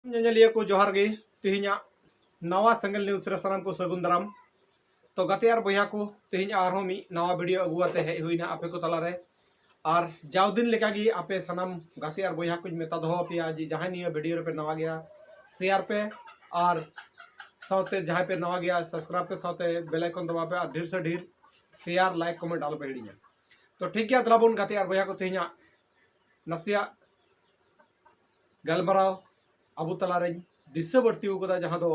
ᱧᱮᱧᱮᱞᱤᱭᱟᱹ ᱠᱚ ᱡᱚᱦᱟᱨ ᱜᱮ ᱛᱮᱦᱮᱧᱟᱜ ᱱᱟᱣᱟ ᱥᱮᱸᱜᱮᱞ ᱱᱤᱭᱩᱡᱽ ᱨᱮ ᱥᱟᱱᱟᱢ ᱠᱚ ᱥᱟᱹᱜᱩᱱ ᱫᱟᱨᱟᱢ ᱛᱚ ᱜᱟᱛᱮ ᱟᱨ ᱵᱚᱭᱦᱟ ᱠᱚ ᱛᱮᱦᱮᱧ ᱟᱨᱦᱚᱸ ᱢᱤᱫ ᱱᱟᱣᱟ ᱵᱷᱤᱰᱤᱭᱳ ᱟᱹᱜᱩ ᱠᱟᱛᱮ ᱦᱮᱡ ᱦᱩᱭᱱᱟ ᱟᱯᱮ ᱠᱚ ᱛᱟᱞᱟᱨᱮ ᱟᱨ ᱡᱟᱣ ᱫᱤᱱ ᱞᱮᱠᱟᱜᱮ ᱟᱯᱮ ᱥᱟᱱᱟᱢ ᱜᱟᱛᱮ ᱟᱨ ᱵᱚᱭᱦᱟ ᱠᱚᱧ ᱢᱮᱛᱟ ᱫᱚᱦᱚ ᱟᱯᱮᱭᱟ ᱡᱮ ᱡᱟᱦᱟᱸᱭ ᱱᱤᱭᱟᱹ ᱵᱷᱤᱰᱤᱭᱳ ᱨᱮᱯᱮ ᱱᱟᱣᱟ ᱜᱮᱭᱟ ᱥᱮᱭᱟᱨ ᱯᱮ ᱟᱨ ᱥᱟᱶᱛᱮ ᱡᱟᱦᱟᱸᱭ ᱯᱮ ᱱᱟᱣᱟ ᱜᱮᱭᱟ ᱥᱟᱵᱥᱠᱨᱟᱭᱤᱵ ᱯᱮ ᱥᱟᱶᱛᱮ ᱵᱮᱞ ᱟᱭᱠᱚᱱ ᱫᱟᱵᱟᱣ ᱯᱮ ᱟᱨ ᱰᱷᱮᱨ ᱥᱮ ᱰᱷᱮᱨ ᱥᱮᱭᱟᱨ ᱞᱟᱭᱤᱠ ᱠᱚᱢᱮᱱᱴ ᱟᱞᱚᱯᱮ ᱦᱤᱲᱤᱧᱟ ᱛᱚ ᱴᱷᱤᱠ ᱜᱮᱭᱟ ᱫᱮᱞᱟ ᱵᱚᱱ ᱜᱟᱛᱮ ᱟᱨ ᱵᱚᱭᱦᱟ ᱠᱚ ᱛᱮᱦᱮᱧᱟᱜ ᱱᱟᱥᱮᱭᱟᱜ ᱜᱟᱞᱢᱟᱨᱟᱣ ᱟᱵᱚ ᱛᱟᱞᱟᱨᱮᱧ ᱫᱤᱥᱟᱹ ᱵᱟᱹᱲᱛᱤ ᱟᱠᱟᱫᱟ ᱡᱟᱦᱟᱸ ᱫᱚ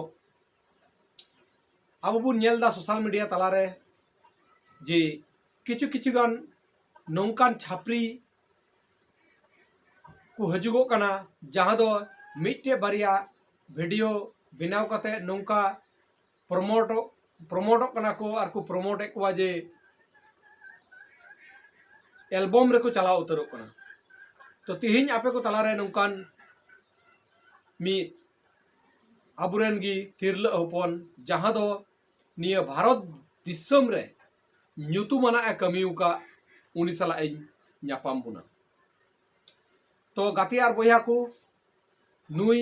ᱟᱵᱚ ᱵᱚᱱ ᱧᱮᱞ ᱮᱫᱟ ᱥᱳᱥᱟᱞ ᱢᱤᱰᱤᱭᱟ ᱛᱟᱞᱟᱨᱮ ᱡᱮ ᱠᱤᱪᱷᱩ ᱠᱤᱪᱷᱩ ᱜᱟᱱ ᱱᱚᱝᱠᱟᱱ ᱪᱷᱟᱯᱨᱤ ᱠᱚ ᱦᱤᱡᱩᱜᱚᱜ ᱠᱟᱱᱟ ᱡᱟᱦᱟᱸ ᱫᱚ ᱢᱤᱫᱴᱮᱡ ᱵᱟᱨᱭᱟ ᱵᱷᱤᱰᱤᱭᱳ ᱵᱮᱱᱟᱣ ᱠᱟᱛᱮ ᱱᱚᱝᱠᱟ ᱯᱨᱚᱢᱳᱴᱚᱜ ᱯᱨᱚᱢᱳᱴᱚᱜ ᱠᱟᱱᱟ ᱠᱚ ᱟᱨ ᱠᱚ ᱯᱨᱚᱢᱳᱴ ᱮᱫ ᱠᱚᱣᱟ ᱡᱮ ᱮᱞᱵᱚᱢ ᱨᱮᱠᱚ ᱪᱟᱞᱟᱣ ᱩᱛᱟᱹᱨᱚᱜ ᱠᱟᱱᱟ ᱛᱚ ᱛᱤᱦᱤᱧ ᱟᱯᱮ ᱠᱚ ᱛᱟᱞᱟᱨᱮ ᱱᱚᱝᱠᱟᱱ ᱢᱤᱫ ᱟᱵᱚᱨᱮᱱ ᱜᱮ ᱛᱤᱨᱞᱟᱹ ᱦᱚᱯᱚᱱ ᱡᱟᱦᱟᱸ ᱫᱚ ᱱᱤᱭᱟᱹ ᱵᱷᱟᱨᱚᱛ ᱫᱤᱥᱚᱢ ᱨᱮ ᱧᱩᱛᱩᱢᱟᱱᱟᱜ ᱮ ᱠᱟᱹᱢᱤ ᱟᱠᱟᱫ ᱩᱱᱤ ᱥᱟᱞᱟᱜ ᱤᱧ ᱧᱟᱯᱟᱢ ᱵᱚᱱᱟ ᱛᱚ ᱜᱟᱛᱮ ᱟᱨ ᱵᱚᱭᱦᱟ ᱠᱚ ᱱᱩᱭ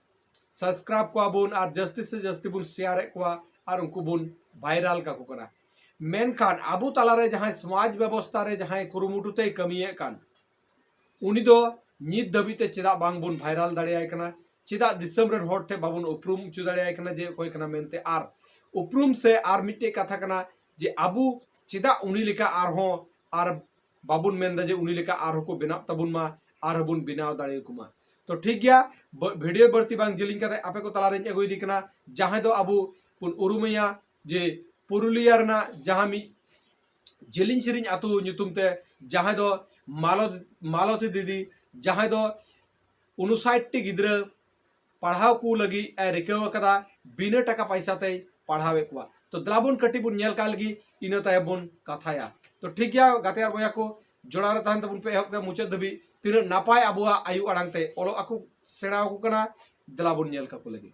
ᱥᱟᱵᱥᱠᱨᱟᱭᱤᱵ ᱠᱚᱣᱟ ᱵᱚᱱ ᱟᱨ ᱡᱟᱹᱥᱛᱤ ᱥᱮ ᱡᱟᱹᱥᱛᱤ ᱵᱚᱱ ᱥᱮᱭᱟᱨ ᱮᱫ ᱠᱚᱣᱟ ᱟᱨ ᱩᱱᱠᱩ ᱵᱚᱱ ᱵᱷᱟᱭᱨᱟᱞ ᱠᱟᱠᱚ ᱠᱟᱱᱟ ᱢᱮᱱᱠᱷᱟᱱ ᱟᱵᱚ ᱛᱟᱞᱟᱨᱮ ᱡᱟᱦᱟᱸᱭ ᱥᱚᱢᱟᱡᱽ ᱵᱮᱵᱚᱥᱛᱟ ᱨᱮ ᱡᱟᱦᱟᱸᱭ ᱠᱩᱨᱩᱢᱩᱴᱩ ᱛᱮᱭ ᱠᱟᱹᱢᱤᱭᱮᱫ ᱠᱟᱱ ᱩᱱᱤ ᱫᱚ ᱱᱤᱛ ᱫᱷᱟᱹᱵᱤᱡ ᱛᱮ ᱪᱮᱫᱟᱜ ᱵᱟᱝ ᱵᱚᱱ ᱵᱷᱟᱭᱨᱟᱞ ᱫᱟᱲᱮᱭᱟᱭ ᱠᱟᱱᱟ ᱪᱮᱫᱟᱜ ᱫᱤᱥᱚᱢ ᱨᱮᱱ ᱦᱚᱲ ᱴᱷᱮᱱ ᱵᱟᱵᱚᱱ ᱩᱯᱨᱩᱢ ᱦᱚᱪᱚ ᱫᱟᱲᱮᱭᱟᱭ ᱠᱟᱱᱟ ᱡᱮ ᱚᱠᱚᱭ ᱠᱟᱱᱟ ᱢᱮᱱᱛᱮ ᱟᱨ ᱩᱯᱨᱩᱢ ᱥᱮ ᱟᱨ ᱢᱤᱫᱴᱮᱡ ᱠᱟᱛᱷᱟ ᱠᱟᱱᱟ ᱡᱮ ᱟᱵᱚ ᱪᱮᱫᱟᱜ ᱩᱱᱤ ᱞᱮᱠᱟ ᱟᱨᱦᱚᱸ ᱟᱨ ᱵᱟᱵᱚᱱ ᱢᱮᱱ ᱮᱫᱟ ᱡᱮ ᱩᱱᱤ ᱞᱮᱠᱟ ᱟᱨᱦᱚᱸ ᱠᱚ ᱵᱮᱱᱟᱜ ᱛᱟᱵᱚᱱ ᱢᱟ ᱟᱨᱦᱚᱸ ᱵᱚᱱ ᱵᱮᱱᱟᱣ ᱫᱟᱲᱮ ᱟᱠᱚ ᱢᱟ ᱛᱚ ᱴᱷᱤᱠ ᱜᱮᱭᱟ ᱵᱷᱤᱰᱤᱭᱳ ᱵᱟᱹᱲᱛᱤ ᱵᱟᱝ ᱡᱮᱞᱮᱧ ᱠᱟᱛᱮ ᱟᱯᱮ ᱠᱚ ᱛᱟᱞᱟ ᱨᱮᱧ ᱟᱹᱜᱩᱭᱮᱫᱮ ᱠᱟᱱᱟ ᱡᱟᱦᱟᱸᱭ ᱫᱚ ᱟᱵᱚ ᱵᱚᱱ ᱩᱨᱩᱢᱮᱭᱟ ᱡᱮ ᱯᱩᱨᱩᱞᱤᱭᱟ ᱨᱮᱱᱟᱜ ᱡᱟᱦᱟᱸ ᱢᱤᱫ ᱡᱮᱞᱮᱧ ᱥᱮᱨᱮᱧ ᱟᱛᱳ ᱧᱩᱛᱩᱢ ᱛᱮ ᱡᱟᱦᱟᱸᱭ ᱫᱚ ᱢᱟᱞᱚᱛ ᱢᱟᱞᱚᱛᱤ ᱫᱤᱫᱤ ᱡᱟᱦᱟᱸᱭ ᱫᱚ ᱩᱱᱩᱥᱟᱴᱴᱤ ᱜᱤᱫᱽᱨᱟᱹ ᱯᱟᱲᱦᱟᱣ ᱠᱚ ᱞᱟᱹᱜᱤᱫ ᱮ ᱨᱤᱠᱟᱹ ᱟᱠᱟᱫᱟ ᱵᱤᱱᱟᱹ ᱴᱟᱠᱟ ᱯᱟᱭᱥᱟ ᱛᱮᱭ ᱯᱟᱲᱦᱟᱣᱮᱫ ᱠᱚᱣᱟ ᱛᱚ ᱫᱮᱞᱟ ᱵᱚᱱ ᱠᱟᱹᱴᱤᱡ ᱵᱚᱱ ᱧᱮᱞ ᱠᱟᱜ ᱞᱟᱹᱜᱤᱫ ᱤᱱᱟᱹ ᱛᱟᱭᱚᱢ ᱵᱚᱱ ᱠᱟᱛᱷᱟᱭᱟ ᱛᱚ ᱴᱷᱤᱠ ᱜᱮᱭᱟ ᱜᱟᱛᱮ ᱟᱨ ᱵᱚᱭᱦᱟ ᱠᱚ ᱡᱚᱲᱟᱣ ᱨᱮ ᱛᱟᱦᱮᱱ ᱛᱟᱵᱚᱱ ᱯᱮ ᱮᱦᱚᱵ ᱠᱷᱚᱱ ᱢᱩᱪᱟᱹᱫ ᱫᱷᱟᱹᱵᱤᱡ ᱛᱤᱱᱟᱹᱜ ᱱᱟᱯᱟᱭ ᱟᱵᱚᱣᱟᱜ ᱟᱭᱳ ᱟᱲᱟᱝ ᱛᱮ ᱚᱞᱚᱜ ᱟᱠᱚ ᱥᱮᱬᱟ ᱟᱠᱚ ᱠᱟᱱᱟ ᱫᱮᱞᱟ ᱵᱚᱱ ᱧᱮᱞ ᱠᱟᱠᱚ ᱞᱟᱹᱜᱤᱫ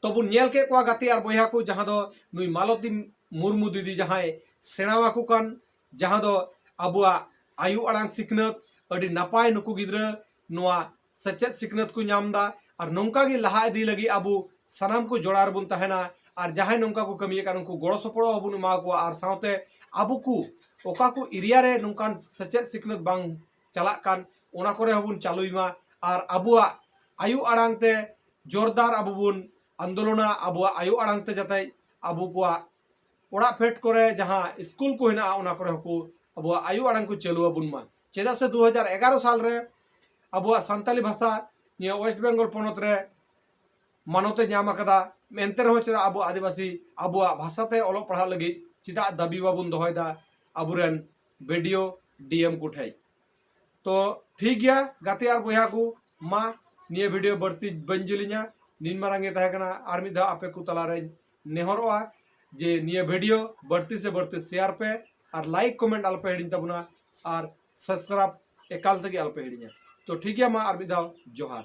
ᱛᱚᱵᱚᱱ ᱧᱮᱞ ᱠᱮᱫ ᱠᱚᱣᱟ ᱜᱟᱛᱮ ᱟᱨ ᱵᱚᱭᱦᱟ ᱠᱚ ᱡᱟᱦᱟᱸ ᱫᱚ ᱱᱩᱭ ᱢᱟᱞᱚᱛᱤ ᱢᱩᱨᱢᱩ ᱫᱤᱫᱤ ᱡᱟᱦᱟᱸᱭ ᱥᱮᱬᱟᱣᱟᱠᱚ ᱠᱟᱱ ᱡᱟᱦᱟᱸ ᱫᱚ ᱟᱵᱚᱣᱟᱜ ᱟᱭᱳ ᱟᱲᱟᱝ ᱥᱤᱠᱷᱱᱟᱹᱛ ᱟᱹᱰᱤ ᱱᱟᱯᱟᱭ ᱱᱩᱠᱩ ᱜᱤᱫᱽᱨᱟᱹ ᱱᱚᱣᱟ ᱥᱮᱪᱮᱫ ᱥᱤᱠᱷᱱᱟᱹᱛ ᱠᱚ ᱧᱟᱢ ᱮᱫᱟ ᱟᱨ ᱱᱚᱝᱠᱟ ᱜᱮ ᱞᱟᱦᱟ ᱤᱫᱤ ᱞᱟᱹᱜᱤᱫ ᱟᱵᱚ ᱥᱟᱱᱟᱢ ᱠᱚ ᱡᱚᱲᱟᱣ ᱨᱮᱵᱚᱱ ᱛᱟᱦᱮᱱᱟ ᱟᱨ ᱡᱟᱦᱟᱸᱭ ᱱᱚᱝᱠᱟ ᱠᱚ ᱠᱟᱹᱢᱤᱭᱮᱫ ᱠᱟᱱ ᱩᱱᱠᱩ ᱜᱚᱲᱚ ᱥᱚᱯᱚᱲᱚ ᱦᱚᱸᱵᱚᱱ ᱮᱢᱟ ᱠᱚᱣᱟ ᱟᱨ ᱥᱟᱶᱛᱮ ᱟᱵᱚ ᱠᱚ ᱚᱠᱟ ᱠᱚ ᱮᱨᱤᱭᱟ ᱨᱮ ᱱᱚᱝᱠᱟᱱ ᱥᱮᱪᱮᱫ ᱥᱤᱠᱷᱱᱟᱹᱛ ᱵᱟᱝ ᱪᱟᱞᱟᱜ ᱠᱟᱱ ᱚᱱᱟ ᱠᱚᱨᱮ ᱦᱚᱸᱵᱚᱱ ᱪᱟᱹᱞᱩᱭ ᱢᱟ ᱟᱨ ᱟᱵᱚᱣᱟᱜ ᱟᱭᱳ ᱟᱲᱟᱝ ᱛᱮ ᱡᱳᱨᱫᱟᱨ ᱟᱵᱚ ᱵᱚᱱ ᱟᱱᱫᱳᱞᱚᱱᱟ ᱟᱵᱚᱣᱟᱜ ᱟᱭᱳ ᱟᱲᱟᱝ ᱛᱮ ᱡᱟᱛᱮ ᱟᱵᱚ ᱠᱚᱣᱟᱜ ᱚᱲᱟᱜ ᱯᱷᱮᱰ ᱠᱚᱨᱮ ᱡᱟᱦᱟᱸ ᱥᱠᱩᱞ ᱠᱚ ᱦᱮᱱᱟᱜᱼᱟ ᱚᱱᱟ ᱠᱚᱨᱮ ᱦᱚᱸᱠᱚ ᱟᱵᱚᱣᱟᱜ ᱟᱭᱳ ᱟᱲᱟᱝ ᱠᱚ ᱪᱟᱹᱞᱩ ᱟᱵᱚᱱ ᱢᱟ ᱪᱮᱫᱟᱜ ᱥᱮ 2011 ᱥᱟᱞ ᱨᱮ ᱟᱵᱚᱣᱟᱜ ᱥᱟᱱᱛᱟᱞᱤ ᱵᱷᱟᱥᱟ ᱱᱤᱭᱟᱹ ᱳᱭᱮᱥᱴ ᱵᱮᱝᱜᱚᱞ ᱯᱚᱱᱚᱛ ᱨᱮ ᱢᱟᱱᱚᱛᱮ ᱧᱟᱢ ᱟᱠᱟᱫᱟ ᱮᱱᱛᱮ ᱨᱮᱦᱚᱸ ᱪᱮᱫᱟᱜ ᱟᱵᱚ ᱟᱹᱫᱤᱵᱟᱹᱥᱤ ᱟᱵᱚᱣᱟᱜ ᱵᱷᱟᱥᱟᱛᱮ ᱚᱞᱚᱜ ᱯᱟᱲᱦᱟᱜ ᱞᱟᱹᱜᱤᱫ ᱪᱮᱫᱟᱜ ᱫᱟᱹᱵᱤ ᱵᱟᱵᱚᱱ ᱫᱚᱦᱚᱭᱮᱫᱟ ᱟᱵᱚᱨᱮᱱ ᱵᱤᱰᱤᱭᱳ ᱰᱤᱮᱢ ᱠᱚ ᱴᱷᱮᱡ ᱛᱚ ᱴᱷᱤᱠ ᱜᱮᱭᱟ ᱜᱟᱛᱮ ᱟᱨ ᱵᱚᱭᱦᱟ ᱠᱚ ᱢᱟ ᱱᱤᱭᱟᱹ ᱵᱷᱤᱰᱤᱭᱳ ᱵᱟᱹᱲᱛᱤ ᱵᱟᱹᱧ ᱡᱤᱞᱤᱧᱟ ᱱᱤᱱ ᱢᱟᱨᱟᱝ ᱜᱮ ᱛᱟᱦᱮᱸ ᱠᱟᱱᱟ ᱟᱨ ᱢᱤᱫ ᱫᱷᱟᱣ ᱟᱯᱮ ᱠᱚ ᱛᱟᱞᱟᱨᱮᱧ ᱱᱮᱦᱚᱨᱚᱜᱼᱟ ᱡᱮ ᱱᱤᱭᱟᱹ ᱵᱷᱤᱰᱤᱭᱳ ᱵᱟᱹᱲᱛᱤ ᱥᱮ ᱵᱟᱹᱲᱛᱤ ᱥᱮᱭᱟᱨ ᱯᱮ ᱟᱨ ᱞᱟᱭᱤᱠ ᱠᱚᱢᱮᱱᱴ ᱟᱞᱚᱯᱮ ᱦᱤᱲᱤᱧ ᱛᱟᱵᱚᱱᱟ ᱟᱨ ᱥᱟᱵᱥᱠᱨᱟᱭᱤᱵ ᱮᱠᱟᱞ ᱛᱮᱜᱮ ᱟᱞᱚᱯᱮ ᱦᱤᱲᱤᱧᱟ ᱛᱚ ᱴᱷᱤᱠ ᱜᱮᱭᱟ ᱢᱟ ᱟᱨ ᱢᱤᱫ ᱫᱷᱟᱣ ᱡᱚᱦᱟᱨ